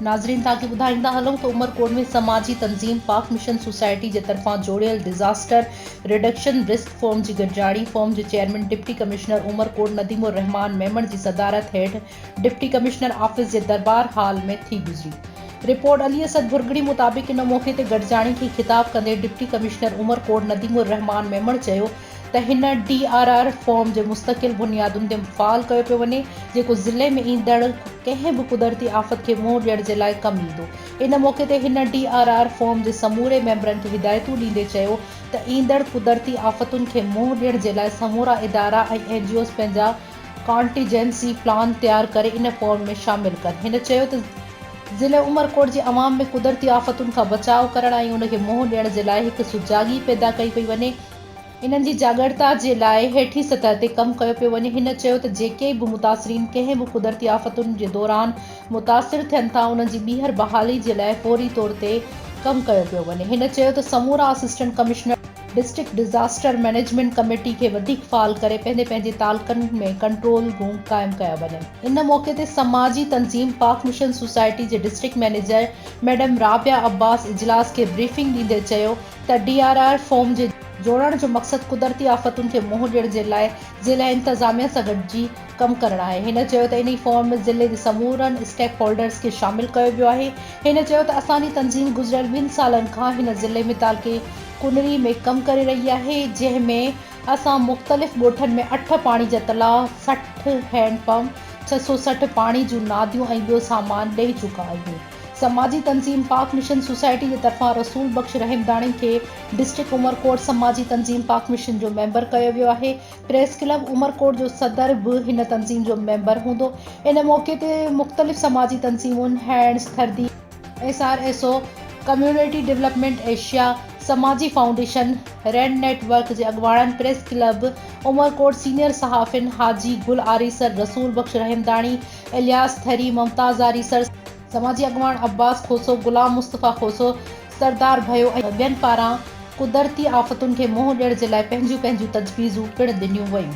ناظرين تهان کي ٻڌائيندا هلون ته عمرڪوٽ ۾ سماجي تنظيم پاڪ مشن سوسائٽي جي طرفان جوڙيل ڊزاسٽر رڊڪشن رسڪ فورم جي گڏجاڻي فورم جي chairman deputy commissioner Umerkot Nadeem ur-Rahman Memon جي صدارت هيٺ ڊپٽي ڪمشنر آفيس جي دربار هال ۾ ٿي گذري. رپورٽ علي اسد ڀرڳڙي مطابق ان موقعي تي گڏجاڻي کي خطاب ڪندي ڊپٽي ڪمشنر عمرڪوٽ نديم الرحمان ميمڻ چيو ته هن ڊي آر آر فارم جي مستقل بنيادن تي فعال ڪيو پيو وڃي جيڪو ضلعي ۾ ايندڙ ڪنهن به قدرتي آفت کي منهن ڏيڻ جي لاء ڪم ايندو ان موقعي تي هن ڊي آر آر فارم جي سموري ميمبرن کي هدايتون ڏيندي چيو ته ايندڙ قدرتي آفتن کي منهن ڏيڻ جي لاء سمورا ادارا ۽ اين جي اوز پنهنجا ڪانٽيجنسي پلان تيار ڪري ان فورم ۾ شامل ڪن. هن چيو ته ضلعي عمرڪوٽ جي عوام ۾ قدرتي آفتن کان بچاء ڪرڻ ۽ ان کي منهن ڏيڻ جي لاء هڪ سجاڳي پيدا ڪئي پئي وڃي، انهن جي جاڳرتا جي لاء هيٺين سطح تي ڪم ڪيو پيو وڃي، هن چيو ته جيڪي به متاثرين ڪنهن به قدرتي آفتن جي دوران متاثر ٿين ٿا انهن جي ٻيهر بحالي جي لاء فوري طور تي ڪم ڪيو پيو وڃي، هن چيو ته سمورا assistant commissioner. District disaster management committee کي وڌيڪ فعال ڪري پنهنجي پنهنجي تعلقن ۾ ڪنٽرول روم قائم ڪيا وڃن ان موقعي تي سماجي تنظيم پاڪ مشن سوسائٽي جي district manager madam Rabia Abbas اجلاس کي بريفنگ ڏيندي چيو ته ڊي آر آر فورم جي جوڙڻ جو مقصد قدرتي آفتن کي منهن ڏيڻ جي لاء ضلعي انتظاميه سان گڏجي ڪم ڪرڻ آهي. هن چيو ته انهي فورم ۾ ضلعي جي سمورن اسٽيڪ هولڊرز کي شامل ڪيو ويو آهي. هن چيو ته اسان جي تنظيم گذريل ٻن سالن کان هن ضلعي ۾ تعلقي ڪنري ۾ ڪم ڪري رهي آهي جنهن ۾ اسان مختلف ڳوٺن ۾ اٺ پاڻي جا تلاء، سٺ هينڊ پمپ، ڇهه سؤ سٺ پاڻي جون ناديون ۽ ٻيو سامان ڏئي چڪا آهيون. سماجي تنظيم پاڪ مشن سوسائٽي جي طرفان رسول بخش رحمداڻي کي ڊسٽرڪٽ عمرڪوٽ سماجي تنظيم پاڪ مشن جو ميمبر ڪيو ويو آهي. پريس ڪلب عمرڪوٽ جو صدر به هن تنظيم جو ميمبر هوندو. ان موقعي تي مختلف سماجي تنظيمون، هينڊز، ٿردي، S R S O, community development Asia, سماجي فائونڊيشن، ريڊ نيٽ ورڪ جي اڳواڻن، پريس ڪلب عمرڪوٽ سينيئر صحافين حاجي گل آريسر، رسول بخش رحمداڻي، الياس ٿري، ممتاز آريسر، سماجي اڳواڻ عباس کوسو، غلام مصطفيٰ کوسو، سردار ڀيو ۽ ٻين پاران قدرتي آفتن کي منهن ڏيڻ جي لاء پنهنجون پنهنجون تجويزون پڻ ڏنيون ويون.